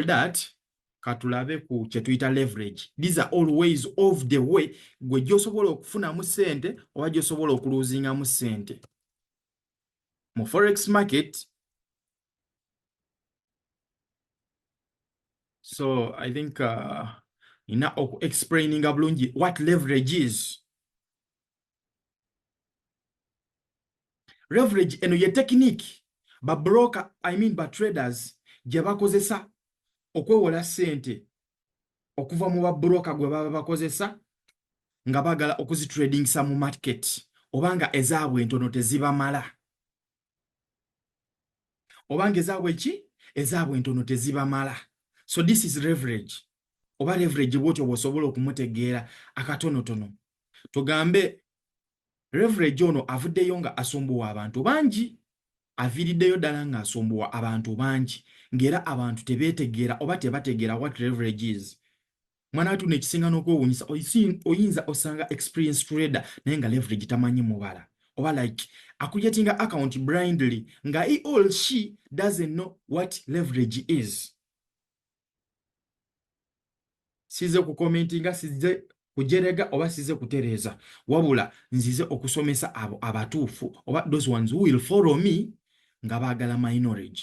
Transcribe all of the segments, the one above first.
that katulabe ku kyetuyita leverage these are all ways of the way gwe gyosobola okufunamu sente oba gyosobola okuluzingamu sente mu forex market so i think uh, ina okuexplaininga bulungi what leverage is leverage eno ye tekiniki ba broker i mean ba traders gye bakozesa okwewola sente okuva mu babroka gwe baba bakozesa nga bagala okuzitradingisa mu market oba nga ezaabwe entono tezibamala obanga ezaabwe ki ezaabwe entono tezibamala so this is leverage oba leverage bwotyo bwosobola okumutegeera akatonotono tugambe leverage ono avuddeyo nga asumbuwa abantu bangi aviiriddeyo ddala nga asumbuwa abantu bangi ng'era abantu tebeetegeera oba tebategeera what leverage is mwanatu nekisinga nokwewunyisa oyinza osanga experience trader naye nga leverage tamanyi mubala oba like akujetinga account blindly nga he all she doesn't know what leverage is size kukomentinga size kujerega oba size kutereza wabula nzize okusomesa abo abatuufu oba those ones who will follow me nga bagala my knowledge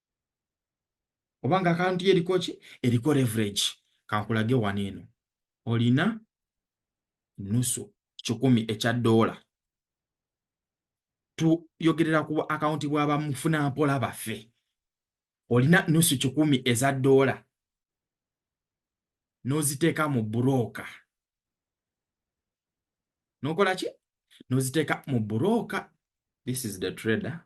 oba nga akaunti ye eriko ki eriko leverage kankulage wano eno olina nusu kikumi ekya doola tuyogerera ku akaunti bwa bamufuna mpola baffe olina nusu kikumi eza doola n'oziteeka mu burooka n'okola ki n'oziteeka mu burooka this is the trader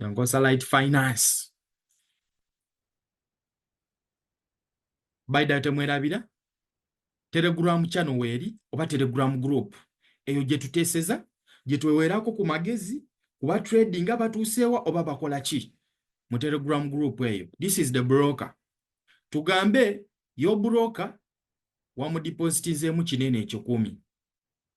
Nyankosa Light Finance. Baida temwerabira Telegram channel weri oba Telegram group eyo gye tuteseza gye twewerako ku magezi kuba trading abatuuseewa oba bakola ki mu Telegram group eyo. This is the broker. Tugambe yo broker wamudipositizeemu kinene ekikumi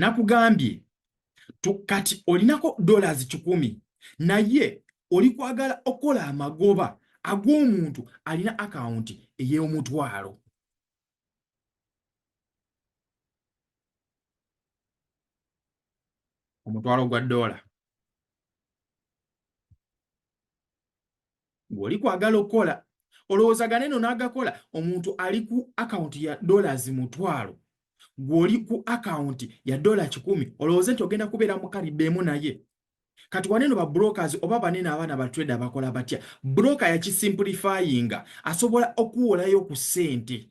nakugambye kati olinako dollars kikumi naye oli kwagala okukola amagoba ag'omuntu alina akawunti ey'omutwalo omutwalo gwa doola ng'oli kwagala okukola olowooza ganeno n'agakola omuntu ali ku akawunti ya dollars mutwalo gw'oli ku akawunti ya dola kikumi olowooze nti ogenda kubeera mukalidde emu naye kati waneno ba brokers oba banene abaana ba trader bakola batya broker yakisimplifyinga asobola okuwolayo ku ssente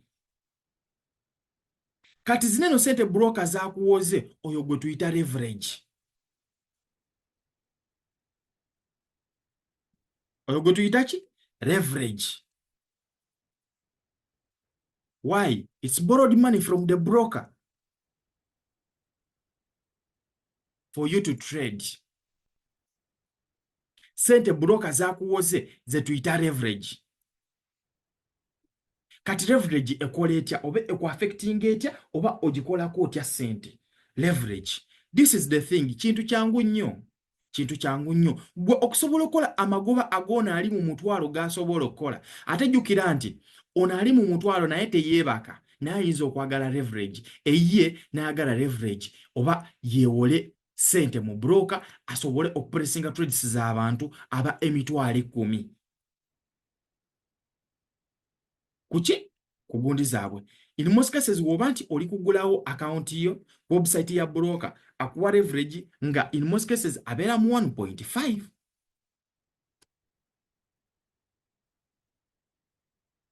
kati zineno sente broka zakuwoze oyo gwe tuyita leverage oyo gwe tuyita ki leverage why its borrowed money from the broker for you to trade sente broker zakuwoze zetuyita leverage kati leverage ekola etya oba ekuaffecting etya oba ogikolako otya sente leverage this is the thing kintu kyangu nnyo kintu kyangu nnyo gwe okusobola okukola amagoba agoona ali mu mutwalo gasobola okukola ate jjukira nti ono ali mu mutwalo naye teyeebaka naye ayinza okwagala leverage eyiye n'ayagala leverage oba yeewole sente mu broka asobole okupressinga trades z'abantu aba emitwalo ekkumi kuki ku gundi zaabwe in most cases woba nti oli kugulawo akawunti yo ku website ya broker akuwa leverage nga in most cases abeera mu 1.5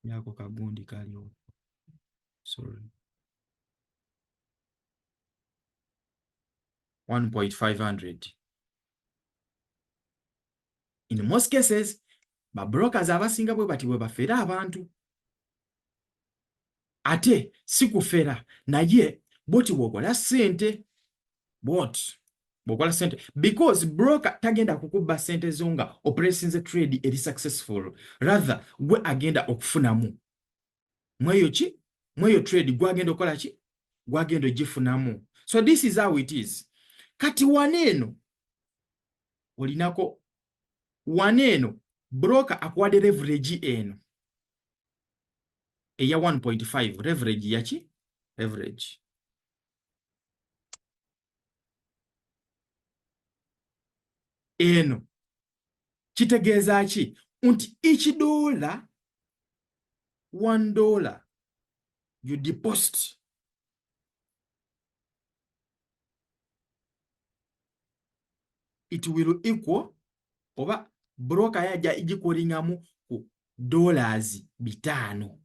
yako kagundi kaliwo sorry 1.500 in most cases babrokers abasinga bwe bati bwe bafera abantu ate si kufera naye boti bwokola sente bot bwokola sente because broker tagenda kukubba sente zo nga operesinze trade eri successful rather gwe agenda okufunamu mweyo ki mweyo trade gwagenda okola ki gwagenda ogifunamu so this is how it is kati wana eno olinako wana eno broker akuwade leverage eno eya 1.5 leverage yaki leverage eno kitegeeza ki nti each dollar one dollar you deposit it will equal oba broka yaja igikolingamu ku dollars bitaano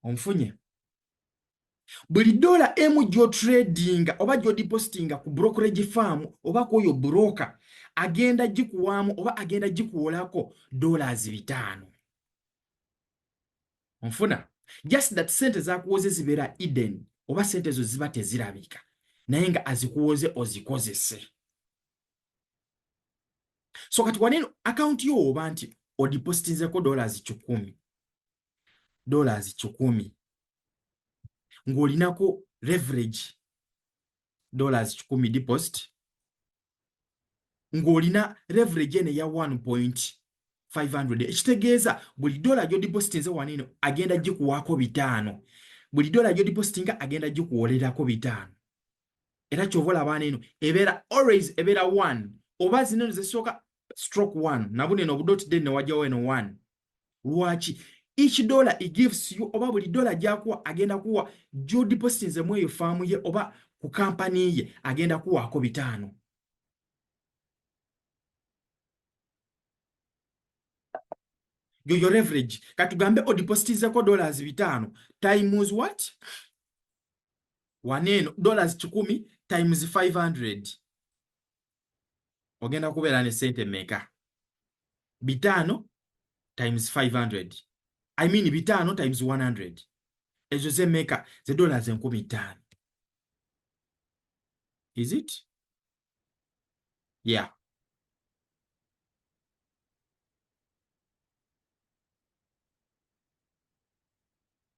onfunye buli dola emu gyotradinga oba gyodipositinga ku brokerage farm oba kwoyo broker agenda gikuwaamu oba agenda gikuwolako dollars bitaano onfuna just that sente zakuwoze zibeera eden oba sente ezo ziba tezirabika naye nga azikuwoze ozikozese so kati waneno akaunti yo oba nti odipositinzeko dollars kikumi dollars kikumi ng'olinako leverage dollars kikumi deposit ng'olina leverage eno eya 1 point 500 ekitegeeza buli dola gyodipositinze waneno agenda gikuwaako bitaano buli dola gyodipositinga agenda gikuwolerako bitaano era kyova olaba abaana eno ebeera always ebeera one oba zino eno zesooka stroke one nabuna eno obudoti denne wajjawo eno one lwaki each dollar it gives you oba buli dollar gyakuwa agenda kuwa gyodipositinze mu eyo faamu ye oba ku kampani ye agenda kuwaako bitaano yoyo leverage katugambe odipositizeko dollars bitaano times what wano eno dollars kikumi times 500 ogenda kubeera ne sente meka bitaano times 500 i mean bitaano times 100 ezo zemeka ze dollars enkumi ttaano is it yeah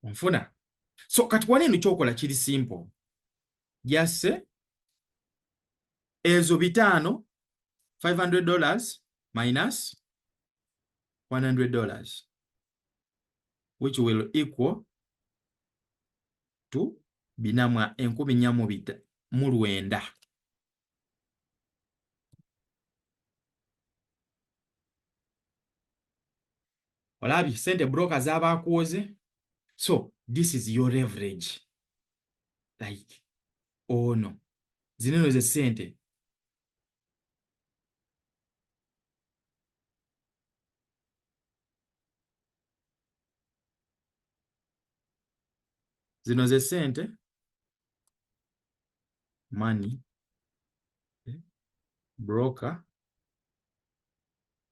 onfuna so kati wali eno kyokola kiri simple jasse ezo bitaano 500 dollars minus 100 dollars which will equal to bina mwa enkumi nnya mu bita mu lwenda olabye sente broka zabakuwoze so this is your leverage like ono oh zino eno ze sente zino ze sente money eh, broker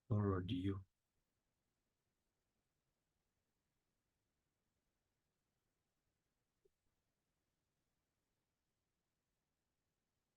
borrowed you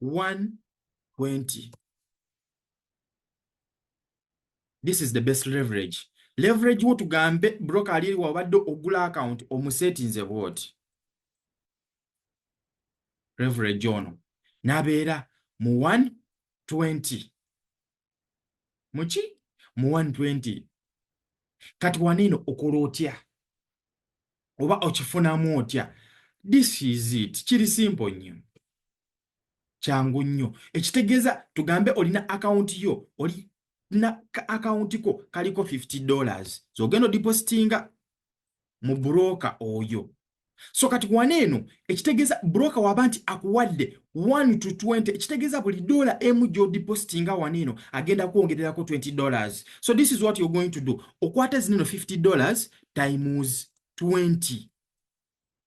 120 this is the best leverage leverage wo tugambe broker ali wabadde ogula account omusetinze bwoti leverage ono nabeera mu 120 muki mu 120 kati waniino okola otya oba okifunamu otya this is it kiri simple nnyo kyangu nnyo ekitegeeza tugambe olina akawunti yo oli na akawunti ko kaliko 50 dollars zogenda so, odipositinga mu broka oyo so kati wana eno ekitegeza broka waba nti akuwadde 1 to 20 ekitegeza buli dola emu gyodipositinga wana eno agenda kwongererako 20 dollars so this is what you're going to do okwata zineno 50 dollars times 20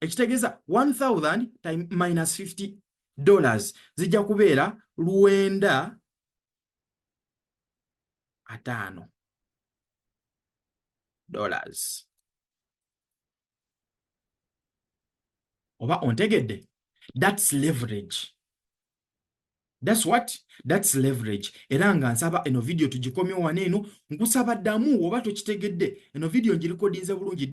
ekitegeeza 1000 time minus 50 dollars zijja kubeera lwenda ataano dollars oba ontegedde that's leverage that's what that's leverage era nga nsaba eno vidiyo tugikomyewo wano eno nkusaba ddamu oba tokitegedde eno vidiyo ngirikodinze bulungi